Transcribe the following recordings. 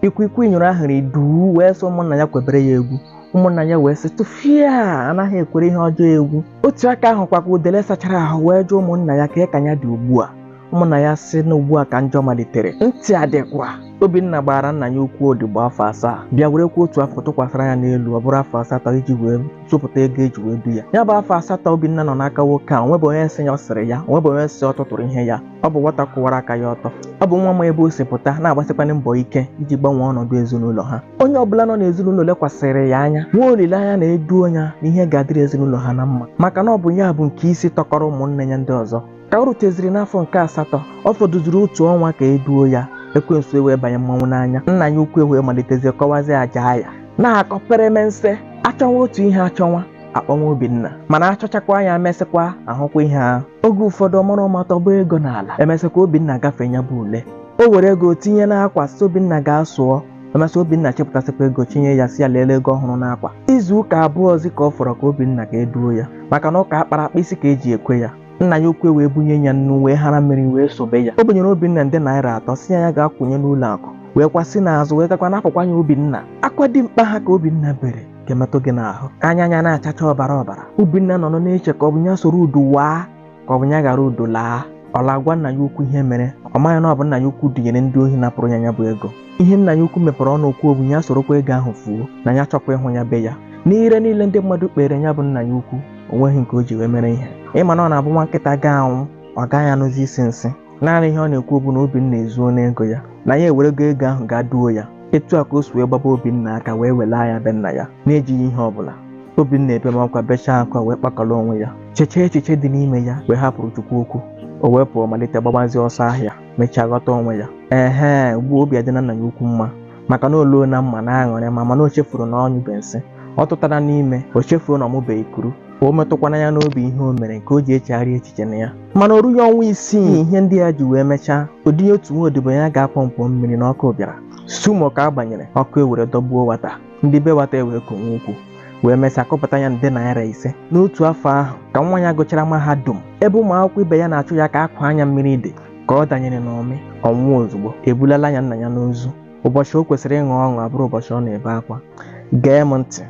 ikwikwii nyụrụ ahụrụ duu wee sị ụmụnna ya kwebere ya egwu ụmụnna ya wee sị tufịa anaghị ekwere ihe ọjọọ egwu otu aka ahụ kwa ka udele sachara ahụ wee jụọ ụmụnna ya ka ya ka ya dị ugbu a ụmụnna ya sị na ugbu a ka njọ malitere ntị adịkwa obinna gbaara nna ya ukwu odibo afọ asaa bịa werekwuo otu afọ tụkwasịra ya n'elu ọ bụrụ afọ asatọ iji wee zụpụta ego eji wee du ya ya bụ afọ asatọ obinna nọ n'aka nwoke a o nwebe onye sị ya ọ sịrị ya o nwebe onye sị ọ tụtụrụ ihe ya Ọ bụ nwata kwụwara aka ya ọtọ. Ọ bụ nwa ma ebe o si pụta na-agbasikwanụ mbọ ike iji gbanwee ọnọdụ ezinụlọ ha. Onye ọbụla nọ n'ezinụlọ lekwasịrị ya anya nwee olileanya na e duo ya na ihe ga-adịrị ezinụlọ ha na mma maka na ọ bụ ya bụ nke isi tọkọrọ ụmụnne ya ndị ọzọ. Ka o ruteziri n'afọ nke asatọ, ọ fọdụziri otu ọnwa ka e duo ya, ekwensu ewee banye mmanwụ n'anya. Nna ya ukwu ewee malitezie kọwazie aja ya. Na-akọ peremense, achọwa otu ihe achọwa. akpọwa Obinna mana achọchakwa ya mesịkwa ahụkwa ihe ahụ oge ụfọdụ ọ mara ụma tọba ego n'ala emesịkwa Obinna gafee ya bụ ule o were ego tinye n'akwa sị Obinna gaa sụọ emesị Obinna chịpụtasịkwa ego chinye ya sị ya lelee ego ọ hụrụ n'akwa izu ụka abụọzi ka ọ fọrọ ka Obinna ka e duo ya maka na ụka akpara akpa isi ka eji ekwe ya nna ya ukwu wee bunye ya nnu wee hara mmiri wee sobe ya o bunyere Obinna nde naira atọ sị ya ya gaa kwụnye n'ụlọ akụ weekwa si n'azụ wee gakwa napụkwa ya Obinna akwa dimkpa ha ka Obinna bere ga-emetụ gị n'ahụ anya ya na-achacha ọbara ọbara obinna nọ nọ na-eche ka ọ bụ ya soro udu waa ka ọ bụ ya ghara udu laa ọ laa gwa nna ya ukwu ihe mere ọ maghị na ọ bụ nna ya ukwu dunyere ndị ohi napụrụ ya ya bụ ego ihe nna ya ukwu mepere ọnụ kwuo bụ ya sorokwa ego ahụ fuo na ya achọkwa ịhụ ya be ya n'ire niile ndị mmadụ kpere ya bụ nna ya ukwu o nweghị nke o ji wee mere ihe ị ma na ọ na-abụ nwa nkịta ga-anwụ ọ gaghị anụzi isi nsị naanị ihe ọ na-ekwu bụ na obinna ezuona ego ya na ya ewerego ego ahụ gaa duo ya etu a ka o si wee gbaba obinna aka wee welaa ya be nna ya n'ejighị ihe ọbụla obinna ebemakwa bechaa akwa wee kpakọrọ onwe ya chechaa echiche dị n'ime ya wee hapụrụ chukwu okwu o wee pụọ malite gbabazie ọsọ ahịa mechaa ghọta onwe ya ehe ugbu a obi adịna nna ya ukwu mma maka na oluo na mma na aṅụrị ma mana o chefuru na ọ nyụbe nsị ọ tụtara n'ime o chefuru na ọ mụbeghị kuru ka o metụkwana ya n'obi ihe o mere nke o ji echegharị echiche na ya mana o rughị ọnwa isii ihe ndị a ji wee mechaa o dunye otu nwa odibo ya gaa pọmpụ mmiri na ọkụ bịara sumo ka a gbanyere ọkụ ewere dọgbuo wata ndị be wata ewee kọwe okwu wee mesịa kọpụta ya nde naira ise n'otu afọ ahụ ka nwa ya gụchara mahadum ebe ụmụ akwụkwọ ibe ya na-achụ ya ka a kwaa ya mmiri dị ka ọ danyere n'omi ọ nwụọ ozugbo ebulala ya nna ya n'ozu ụbọchị o kwesịrị ịṅụ ọṅụ abụrụ ụbọchị ọ na-ebe akwa gee m ntị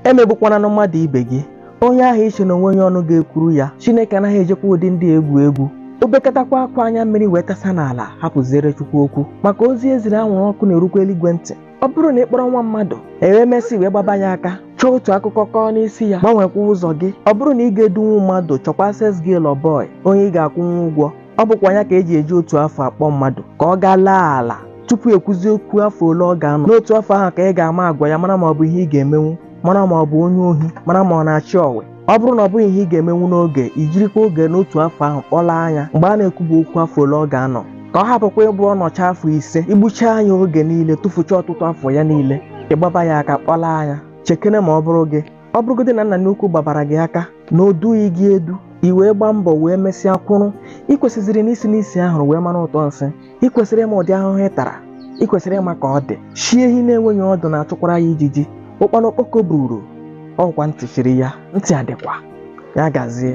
emegbukwananụ mmadụ ibe gị onye ahụ i che na o nwe onye ọnụ ga-ekwuru ya chineke anaghị ejikwa ụdị ndị egwu egwu o bekatakwa akwa anya mmiri wee tasa n'ala hapụziere chukwu okwu maka ozi e ziri anwụrụ ọkụ na-erukwa eluigwe ntị ọ bụrụ na ị kpọrọ nwa mmadụ e wee mesịa wee gbaba ya aka chọọ otu akụkọ kọọ n'isi ya gbanwekwa ụzọ gị ọ bụrụ na ị ga-edunwu mmadụ chọkwa sales girl boy onye ị ga-akwụnwu ụgwọ ọ bụkwa ya ka eji eji otu afọ akpọ mmadụ ka ọ gaa laa ala tupu ekwuzie okwu afọ ole ọ ga-anọ n'otu afọ ahụ ka ị ga-ama agwa ya mara ma ọ bụ ihe ị ga-emenwu mara ma ọ bụ onye ohi mara ma ọ na-achị ọwe ọ bụrụ na ọ bụghị ihe ị ga-emenwu n'oge i jirikwa oge n'otu afọ ahụ kpọlaa ya mgbe a na-ekwube okwu afọ ole ọ ga-anọ ka ọ hapụkwa ịbụ ọ nọcha afọ ise i gbucha ya oge niile tụfucha ọtụtụ afọ ya niile ị gbaba ya aka kpọlaa ya chekene ma ọ bụrụ gị ọ bụrụgodị na nna gị ukwu gbabara gị aka na o dughị gị edu i wee gbaa mbọ wee mesịa kwụrụ ị kwesịziri isi n'isi ahụrụ wee mara ụtọ nsị ị kwesịrị ịma ụdị ahụhụ ị tara ị kwesịrị ịma ka ọ dị chi ehi na-enweghị ọdụ na-achụkwara ya ijiji ụkpana okpoko buuru ọ bụkwa ntị chiri ya ntị adịkwa ya gazie